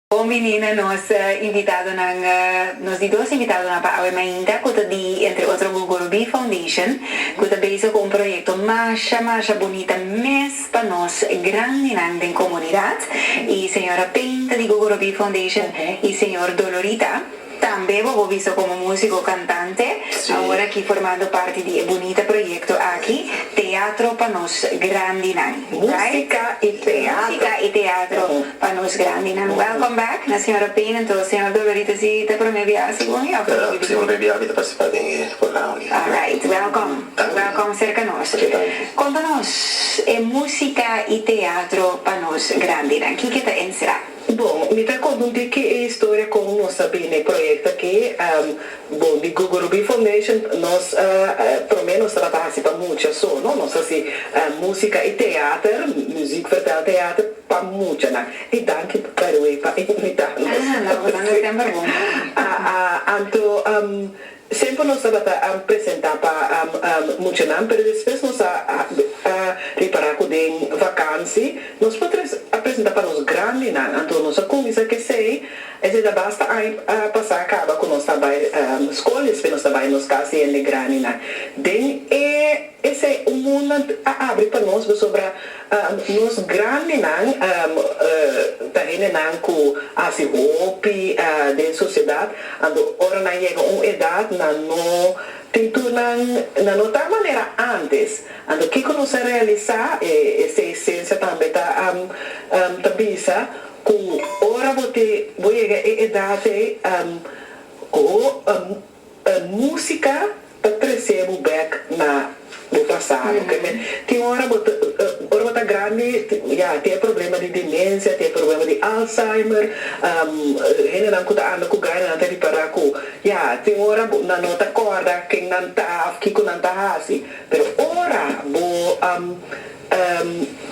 Bon bini na nos invitadonan. Nos di dos invitadonan pa awe mainta cu ta di entre otro Gogoro Bee Foundation cu ta bezig cu un proyecto masha masha bunita mes pa nos grandinan den comunidad y señora Payne ta di Gogoro Bee Foundation y señor Dolorita Tambe bobo bisa komo músiko kantante, awor aki formando parti di e bunita proyekto aki, Teatro pa nos grandinan. Músika i teatro. Músika i teatro pa nos grandinan. Welcome back na Señora Payne anto Señor Dolorita si ta promé biaha si bon e of ta primer biaha. Promé biaha mi ta partisipa den e programa aki. Alright, welcome. Danki. Welcome serka nos. Ok, danki. Konta nos e músika i teatro pa nos grandinan, kiko ta NCRA? Bon, mi ta confunti ke e historia con nos a bini e proyecto aki. Bon, di Google Rubin Foundation nos prome nos tabata haci pa mucha so, no? Nos haci musica y teater, muziek vertel teater, pa muchanan. Y danki by the way pa invita nos. Ah, no, bo ta hende semper bon pa mi. Anto. Semper nos tabata presenta pa muchanan pero despues nos a ripara cu den vakansi nos por a presenta pa nos grandinan anto nos a cuminsa cu esey, esey ta basta aña pasa caba cu nos ta bay scol despues nos ta bay nos cas di hende grandinan den e esey un mundo a abri pa nos pasobra Nos grandenan ta hendenan ku hasi hopi den sosiedad. Anto ora nan yega un edad nan no tin tur nan nan no ta manera antes. Anto kiko nos a realisá? E seis sensia tambe ta ta bisa ku ora bo te bo yega e edad ei ho. Ta músika ta trese bo bek na bo pasado. Ke ke tin ora bo ta ora bo ta grandi ya tin e problema di demensia, tin e problema di Alzheimer, hendenan ku ta anda ku gaina nan ta ripará ku ya tin ora nan no ta kòrda ken nan ta òf kiko nan ta hasi. Pero ora bo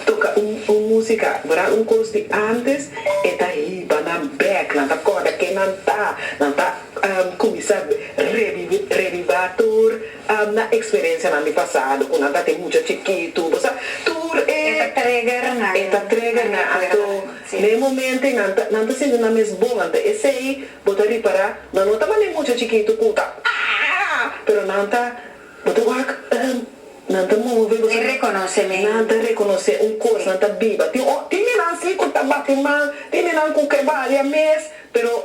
Toca un musica verdad un cos di antes e ta hiba nan bek nan ta corda ken nan ta nan ta cuminsa reviva tur nan experiencia nan di pasado cu nan ta tin mucha chikitu bo sa tur e e ta trigger nan anto na e momento nan ta sinti nan mes bon anto esey bo ta ripara nan no ta mane mucha chikitu cu ta aah pero nan ta Bo ta wak? Nan ta move, bo ta. E rekonosé mi. Nan ta rekonosé un kos, nan ta biba. Tin o, tin di nan si ku ta bati mal, tin di nan ku ke balia mes, pero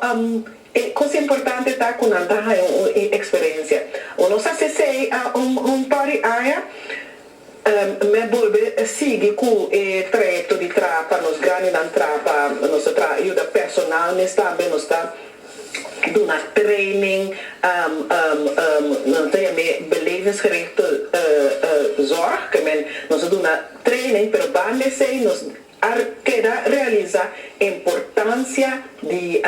e kos importante ta ku nan ta haña un eksperensia. Bo no sa si esei un un par di aña. Meh bolbe sigui cu e trayecto di traha pa nos grandinan traha pa nos ta traha yuda personal mes tambe nos ta duna training nan ta yam'e belevingsgerichte zorg ke men nos ta duna training pero banda esey nos A keda realisá e importansia di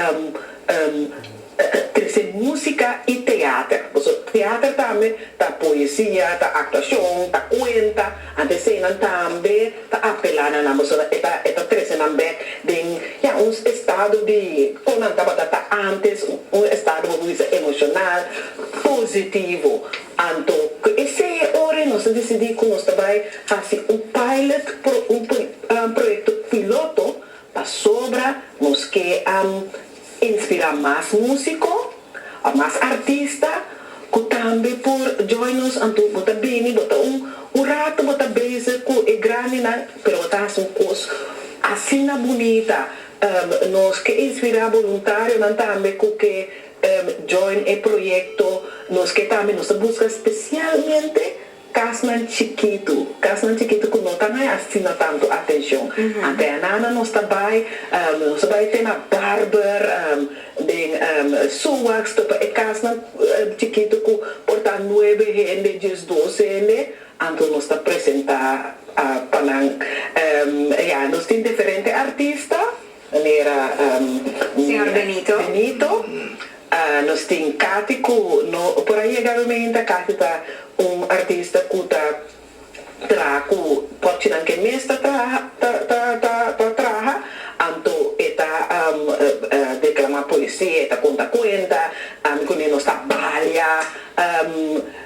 kresé músika i teater. Pasobra teater tambe ta poesia, ta aktuashon, ta kuenta. Antes eseinan tambe ta apelá na nan pasobra e ta e ta trese nan bèk den, ya, un estado di kon nan tabata ta antes, un estado bo por bisa emoshonal, positivo. Anto, ku esei e ora nos a disidí ku nos ta bai. Hasi un pilot un proyekto piloto pasobra nos ke a inspirá mas músiko òf mas artista ku tambe por join nos. Anto bo ta bini, bo ta un ratu bo ta bezig ku e grandinan pero bo ta hasi un kos asina bunita. Nos ke inspirá boluntarionan tambe ku ke join e proyekto. Nos ke tambe nos ta buska spesialmente. Kasnan chikitu, kasnan chikitu ku no ta haya asina tantu atenshon. Ante anana nos ta bai, nos ta bai te na barber, den Suwax topa e kasnan chikitu ku por ta nuebe hende, djes, dos hende, anto nos ta presentá pa nan. Ya, nos tin diferente artista. Manera Señor Benito. Benito, nos tin cati cu no por a yega rumen hende a cati ta un artista cu ta traha cu pochinan que mes ta ta traha anto e ta declama poesia e ta conta cuenta ami cu Nino nos ta balia.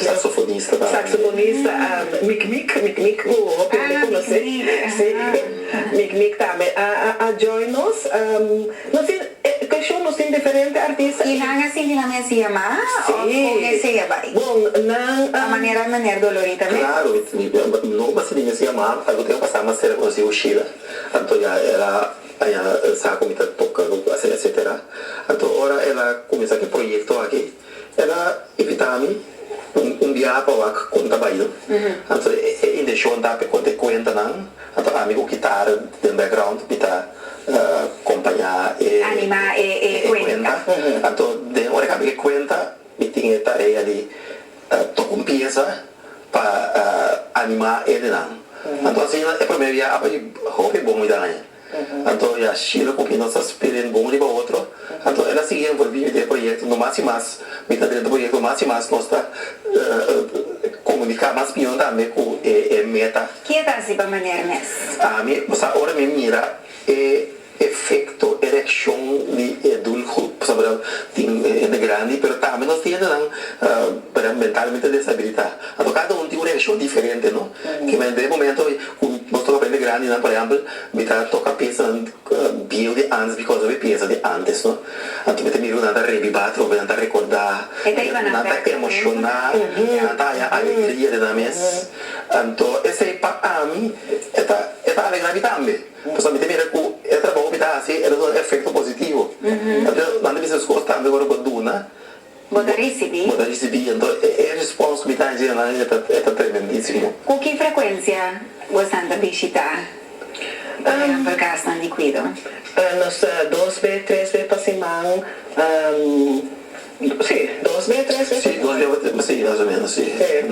Saxofonista Mic Mic Mic Mic cu hopi hende conoce si Mic Mic tambe a join nos nos tin e show nos tin diferente artista y nan a sinti nan mester yama of con esey a bay a manera Meneer Dolori ta bay claro no ba sinti mester yama algo tin a pasa mas cera cu nos yiu Shila anto ya el a baña sa cu mi ta toca cu cu hace etcetera anto ora el a cuminsa cu e proyecto aki. E ta invita mi un biaha pa wak kon ta bail. Anto e inteshon ta pe konte kuentanan, anto ami ku kitara den background mi ta kompañá e kuenta. Anto den ora ku ami ke kuenta mi tin e tarea di toka un piesa pa animá eldenan. Anto asina e promé biaha a bai hopi bon mi ta haña. Anto ya Sheila ku mi nos ta spera en bon riba otro, anto el a sigui envolvi mi den e proyekto, no mas i mas mi ta drenta proyekto, mas i mas nos ta komunika mas biyon tambe ku e meta. Ke ta hasi pa maner mes? Ami bo sa ora mi mira e efekto, e reakshon di e doel grup, bo sa mira tin hende grandi pero tambe nos tin hende nan mentalmente desabilita, anto kada un tin un reakshon diferente no. Kima e momento ku nos tabata papia mi grandi nan por ehempel mi ta toka piasanan bieu di antes bikos nan ta piensa di antes no anto mi ta mira ku nan ta rebiba atrobe nan ta rekorda nan ta emoshona nan ta haña alegria den nan mes anto esei pa ami e ta e ta alegra mi tambe pasobra mi ta mira ku e trabou ku mi ta hasi e ta duna efekto positivo nan ta bisa esfuerso tambe ku a duna Bo ta risibí? Bo ta risibí? Anto e respons mi ta hasi nan e ta tremendísimo. Ku ki frekuensia bo esnan ta bishitá pa di hampel kasnan di kuido? Nos ta dos be, tres be pa siman. Sí, dos be, tres be pa siman. Sí, dos be pa, sí, mas o ménos sí. Sí.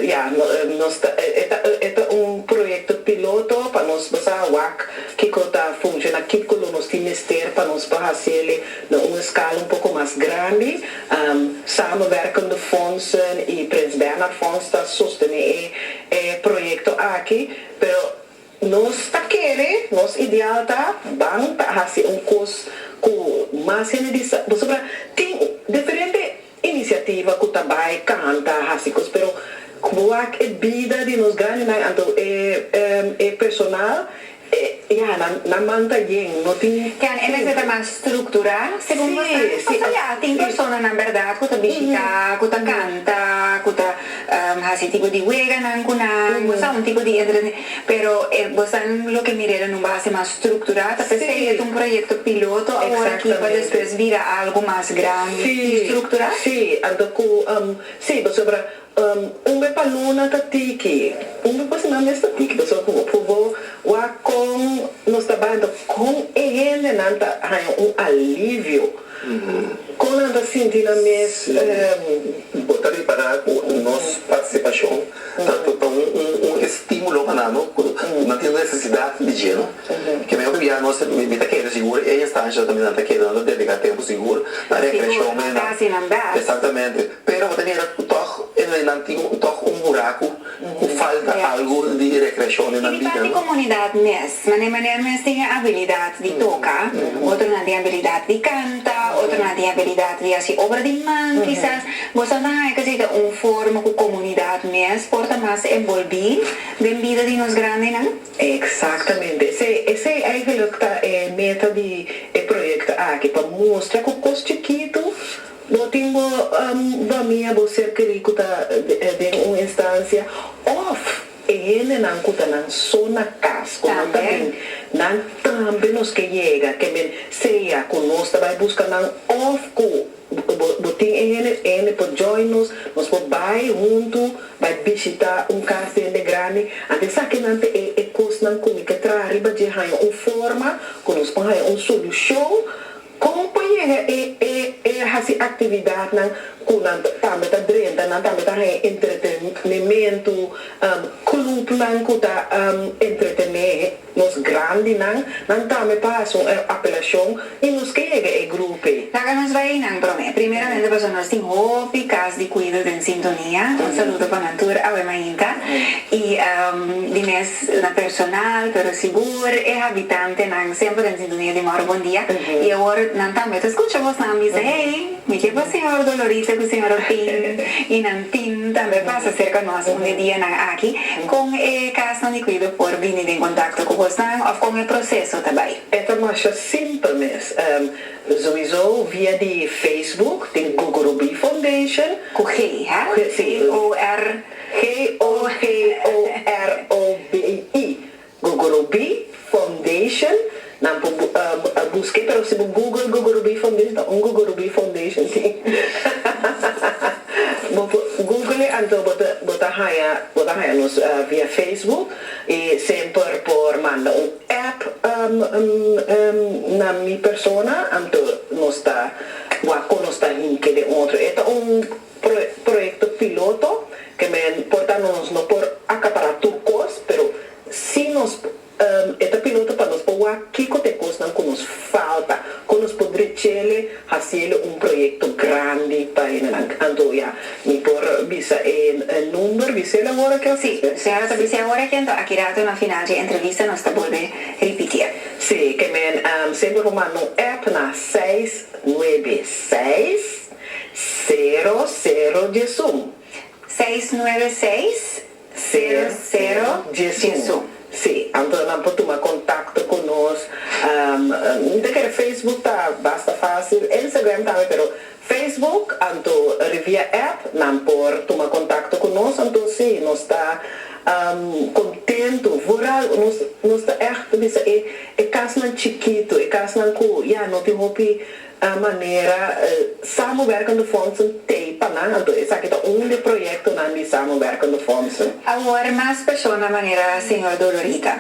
Ya, nos ta, e ta un proyekto piloto pa nos basa wak kiko ta funshoná, kiko lo nos tin mester pa nos por hasieli. Na un eskala un poko mas grandi, Samenwerkende Fondsen i Prins Bernhard Fonds ta sostené e proyekto aki, pero nos ta kere, nos ideal ta, ban ta hasi un kos ku mas hende di sa. Pasobra tin diferente Inisiativa ku ta bai kanta, hasi kos, pero wak e bida di nos grandenan, anto e personal, ya, nan man ta yen, no tin tempu. Ken e nesesita mas strukturá, segun boso? Pasobra ya tin personanan bèrdat ku ta bishitá, ku ta kanta, ku ta hasi tipo di weganan ku nan, boso a un tipo di entre. Pero e bosan loke mi reda nu base mas strukturá ta per se un proyekto piloto awor aki pa despues bira algu mas grandi i strukturá? Sí, anto ku sí, pasobra un be pa luna ta tiki, un be pa siman mes ta tiki, pasobra ku bo wak kon nos ta bai, anto kon e hendenan ta haña un alivio, kon nan ta sinti nan mes. Sí, bo ta repará ku nos partisipashon. Ta ta un estimulo pa nan no cu nan tin necesidad di dje no ke men otro bia nos mi ta kere sigur e instancia ta tambe nan ta kere nan ta dedica tempo sigur na recreacion den nan exactamente pero bo ta mira cu tog e nan tin tog un buraco cu falta algo di recreacion den nan bida no. Mané mané e mens tin e abilidat di toka, otronan tin abilidat di kanta, otronan tin abilidat di hasi obra di man kisas. Boso a ta haña kuzei ta un forma ku komunidat mes por ta mas enbolbí den bida di nos grandenan? Eksaktamente. Esei eigentlik ta e meta di e proyekto aki, pa mustra ku kos chikitu bo tin bo famia, bo ser kerí ku ta den un instansia òf, E hendenan ku ta nan so na kas ku no ta bin, nan tambe nos ke yega, kende sea ku nos ta bai buska nan òf ku bo tin e hende, e hende por join nos, nos por bai huntu bai bishitá un kas di hende grandi. Anto esaki nan ta e e kosnan ku mi ke traha riba dje haña un forma ku nos por haña un solushon. Kon pa yega e e e hasi aktividatnan ku nan tambe ta drenta, nan tambe ta haña entretenementu, klupnan ku ta entretené nos grandinan, nan tambe pa hasi un apelashon i nos ke yega e grupe. Laga nos bai einan promé. Primeramente pasobra nos tin hopi kas di kuido den sintonia. Un saludo pa nan tur awe mainta i di mes. na personal, pero sigur e habitantenan semper a sintonia di Mauro Bondia, i awor nan tambe ta skucha bosnan bisa, Hey, mi ke pa señor Dolorita ku señor Orpin i nan team tambe pasa serka nos un di e dianan aki. Kon e kasnan di kuido por bini den kontakto ku bosnan òf kon e proseso ta bai? E ta masha simpel mes. Souizo via di Facebook, tin Gugurubí Foundation. Ku G, ha? G, sí. G-o-r. G-o-g-o-r-o-b-i, Gogorobi Foundation, nan por busk'e pero si bo google Gogorobi Foundation ta un Gogorobi Foundation tin, bo por google'e anto bo ta bo ta haña bo ta haña nos via Facebook i semper por manda un app na mi persona anto nos ta wak kon nos ta hike den otro e ta un proyekto piloto ke men por ta nos no por akapará tur kos pero si nos e ta piloto pa nos por wak kiko ta e kosnan ku nos falta kon nos por drechele hasiele un proyekto grandi pa enenan anto ya mi por bisa e number bisel awor aki òf si señora ta bis'é awor aki anto aki rato na final dje entrevista nos ta bolbe ripitir. Si ke men semper por manda un app na seis nuebe seis. Sero sero djesun. Seis nuebe seis sero sero djesun. Sí, anto nan por tuma contacto cu nos. N ta kere Facebook ta basta facil, Instagram tambe, pero Facebook anto ri via app nan por tuma contacto cu nos, anto sí, nos ta contento, vooral nos ta echt bisa e casnan chikito, e casnan cu ya no tin hopi. a manera Samenwerkende Fondsen tei pa nan, anto esaki ta un di e proyektonan di Samenwerkende Fondsen. Awor mas persona manera señor Dolorita.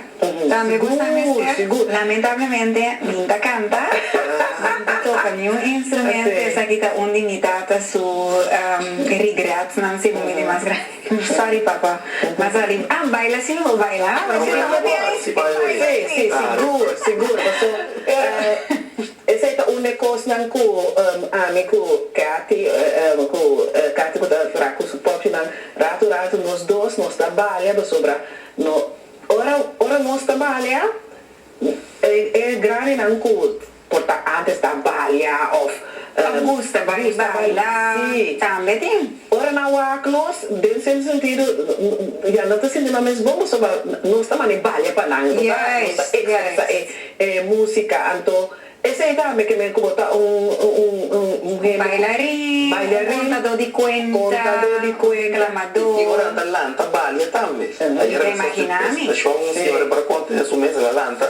Tambe bo sa mester, lamentablemente mi n'ta canta, mi n'ta toca niun instrumento, esaki ta un di mi tata su regretsnan si bo mi di mas grandi, sorry papa, m'a sali, ah baila si mi bo baila, ah, pero si no bo tin ahí, tin ahí, tin ahí. Sí, sí, sigur, sigur, paso. Esei ta un de kosnan ku ami ku Cathy, ku Cathy ku ta ra ku su popinan, ratu ratu nos dos nos ta balia pasobra no ora ora nos ta balia e grandinan ku por ta antes ta balia of ta gusta baila tambe tin Ora nan wak nos, den cierto sentido, ya nan ta sinti nan mes bon pasobra nos ta manda e balia pa nan, nos ta nos ta expresa e e musica, anto esey tambe ke men ku bo ta un un un hende ku Bailarin, bailarin, un contador di cuenta, contador di cuenta, un declamador, tin ora nan ta lanta balia tambe, ayer a mi socia presentacion un señora para conta den su mesa la lanta.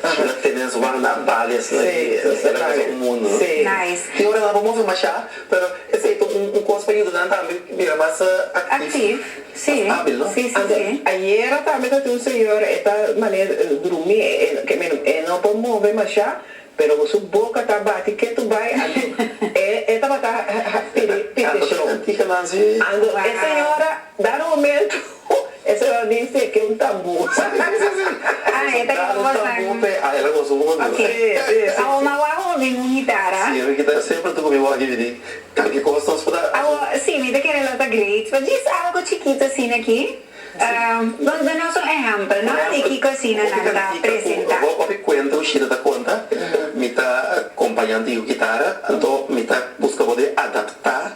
Tin nan tene nan subanan na bales nan y esaki ta cosa un mundo. Tin ora nan a por mostra masha pero esey ta un cos pa yuda nan tambe bira mas actief, mas habil no. Anto ayera tambe ta tin un señor e ta mane drumi e no por move masha pero cu su boca ta bati ketu bay anto e tabata pide show anto e señora da rugmento. Oh, ese era mi fe ke un tambu. Ah, e ta kiba boso nan. Un tambu pe, ah, el a goso un poco duro. Si, si, si. Awo mas waho a bin un gitara. Si, un gitara. Semper tucu mi wak yui di kalke cos nos por ta. Awo, si, mi ta kere lo ta great. Pero djis algo chikito asina aki. Nos danos un ehempel, no? Di kico asina nan ta presenta. Bo hopi cuento cu Shida ta conta, mi ta compañan tin cu gitara, anto mi ta busca bo di adapta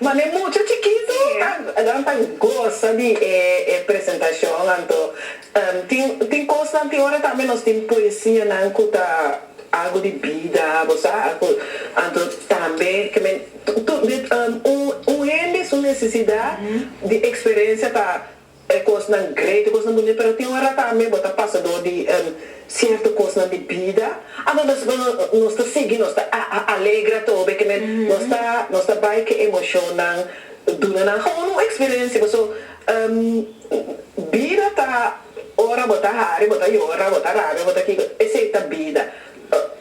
Manda e mucha chikitu ta nan ta gosa di e e presentacion anto tin tin cosnan tin ora tambe nos tin poesianan cu ta algo di bida bo sa cu anto tambe ke men un un hende su necesidad di experencia ta E kosnan great, e kosnan boni, pero tin un ora tambe bo ta pasa dor di sierto kosnan di bida, anto nos bo nos ta sigui, nos ta alegre atobe, ke men nos ta nos ta bai ke emoshonnan duna nan gou un eksperensia. Paso, bida ta ora bo ta hari, bo ta yora, bo ta rabia, bo ta kiko, esei ta bida.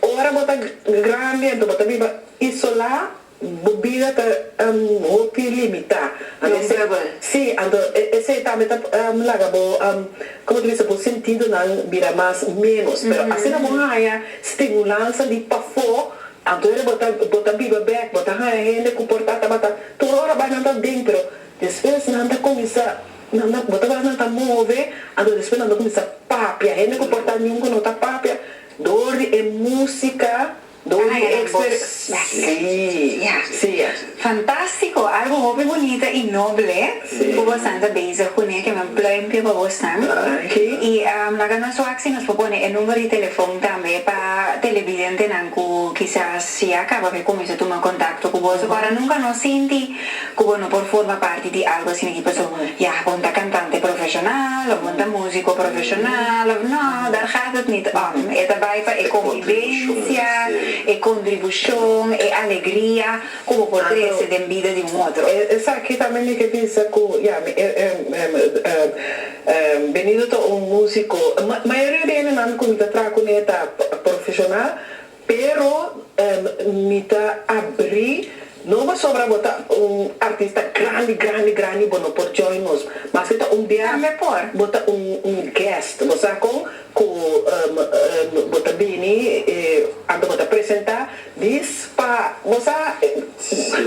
Ora bo ta grandi, anto bo ta biba isolá, Bo bida ta hopi limitá. Comfortable. Sí, anto esei tambe ta laga bo, como ta bisa, bo sentidonan bira mas menos. Pero asina bo haña stimulansa di pafó, anto hende bo ta bo ta biba bek, bo ta haña hende ku por ta tabata tur ora bai nan ta aden, pero despues nan ta kuminsá, nan ta, bo ta wak nan ta move, anto despues nan ta kuminsá papia. Hende ku por ta niun ku no ta papia dor di e músika. Dori Ekster Garcia. Fantástiko! Algu hopi bunita i noble ku bosan ta bezig ku ne. Kimin pluimpio pa bosnan. I laga nos wak si nos por pone e number di telefon tambe pa telebidentenan ku kisas ya kaba ke kuminsá tuma kontakto ku boso. Kora nunka no sinti. Ku bo no por forma parti di algu asina aki paso ya bon ta kantante profeshonal òf bon ta músiko profeshonal òf no, dàr gaat het nit òm. E ta bai pa e konbibensia, e kontribushon, e alegria ku bo por trese den bida di un otro. Esaki tambe mi ke bisa ku ya mi benido ta un músiko. Mayoria di e nenan ku mi ta traha kuné ta profeshonal Pero mi ta abrí, no pasobra bo ta un artista grandi, grandi, grandi bo no por join nos, maske ta un bia bo ta un guest. Bo sa kon ku bo ta bini anto bo ta presentá dis pa bo sa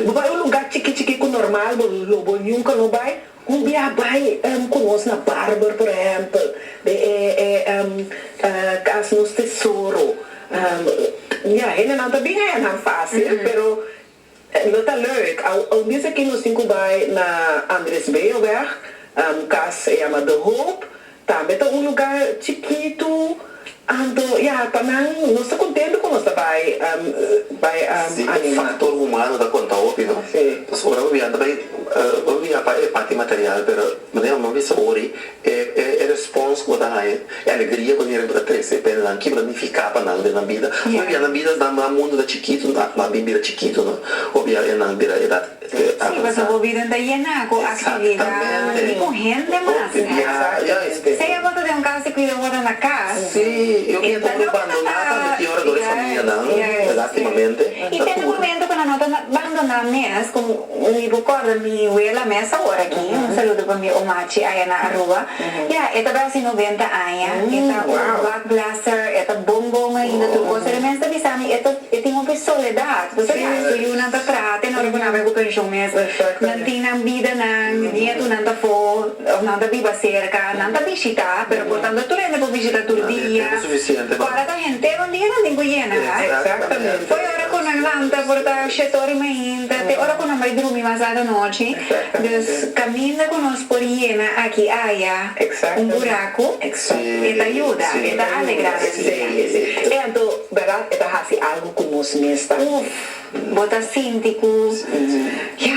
bo bai un lugá chiki chiki ku normal bo lo bo nunka no bai, Cu bia bay cu nos na barber por ehempel de e e cas nos tesoro ya hendenan ta bin haya nan facil pero lo ta leuk aun bies aki nos tin cu bay na Andresbeeuweg cas a yama de hoop Tambe ta un lugá chikitu, anto ya pa nan nos ta kontentu ku nos ta bai bai anima. Si, e faktor humano ta konta hopi, no? Si. Pasobra ora bo biaha nan ta bai bo mira pa e parti material, pero manera ku nan bisa wòrdi e e respons ku bo ta haña, e alegria ku heren bo ta trese pa e nan, kico ta nifiká pa nan den nan bida. Hopi biaha nan bidas, nan mundu ta chikitu, nan bira chikitu, no? Hopi biaha e nan bira e ta. Pasobra bo bidan ta yená ku aktividat i ku hende mas. Si bo ta den un kas di kuida wòrdu na kas, e ta no ta ta. I tene momentu ku nan no ta bandoná mes, ku mi por kòrda mi wela a mesa wòrdu aki, un saludo pa mi omachi aya na Aruba. Ya e ta basi noventa aña, e ta un God blesser, e ta bon bon ainda tur kos. Pero e mester bisa mi e ta. E tin hopi soledad. Pasobra ya su yunan ta trata en ora ku nan bai ku penshon mes. Nan tin nan bidanan, nietunan ta afó òf nan ta biba serka. Nan ta bishitá, pero por tanto tur hende por bishitá tur dia. Kòrata henter un dia nan tin ku yena. Foi ora ku nan lanta por ta shetó riba ein ta te ora ku nan bai drumi mas lat anochi. Dus kaminda ku nos por yena aki aya un buraku e ta yuda, e ta alegrá nan dia. Verdad e ta haci algo cu nos mes ta. Uf bo ta sinti cu ya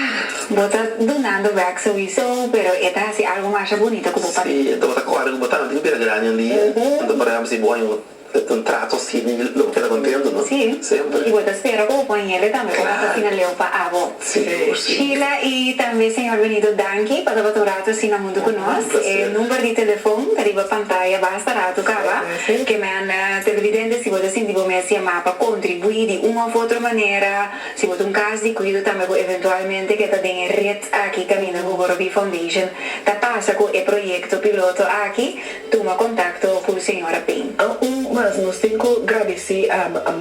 bo ta dunando bek sowiso pero e ta haci algo masha bunito cu bo pa. Si bo ta corda cu bo tante cu bira grandi un dia enton por ejemplo si bo hay un trato así di lo bo keda contento no. Si. Semper. Y bo ta spera cu bo compañero tambe por haci asina leu pa abo. Sheila y tambe Señor Benito danki pa tabata un rato así na hunto cu nos. E number di telefon ta riba pantaya basta rato caba. Kemen televidente si bo ta sinti bo mes yama pa contribui di un of otro manera, si bo ta un cas di cuido tambe cu eventualmente ke ta den e red aki caminda cu Borobi Foundation ta pasa cu e proyecto piloto aki, Tuma kontakto ku señora Payne. Un mas nos tin ku gradisí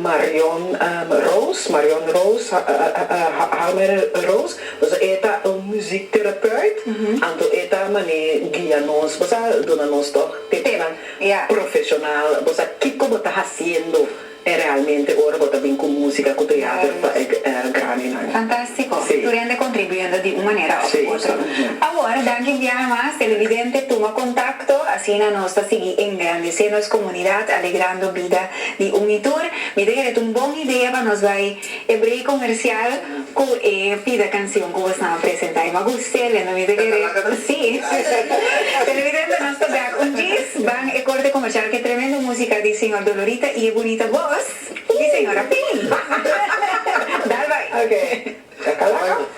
Marion Roos, Marion Roos, Hamer Roos. Pasobra e ta un muzikterapeut, anto e ta manera guia nos. Bo sa duna nos tòg tepnan profeshonal. Bo sa kiko bo ta hasiendo. E realmente ora bo ta bin ku musika ku teater pa e Grammynan. Fantástiko! Tur hende kontribuyendo di un manera òf otro. Awor, danki un biaha mas, televidente tuma kontakto, asina nos ta sigui engrandesé nos komunidat, alegrando bida di un mi tur. Mi ta kere ta un bon idea pa nos bai. E break comercial cu e pida cancion cu bo staan presenta. E ma guste le no mide kere. Si. Televidente nos ta bek un djis ban e corte comercial cu e tremendo musica di Señor Dolorita y e bunita voz di Señora Pin. Dal bay. Ok. Cacalaca.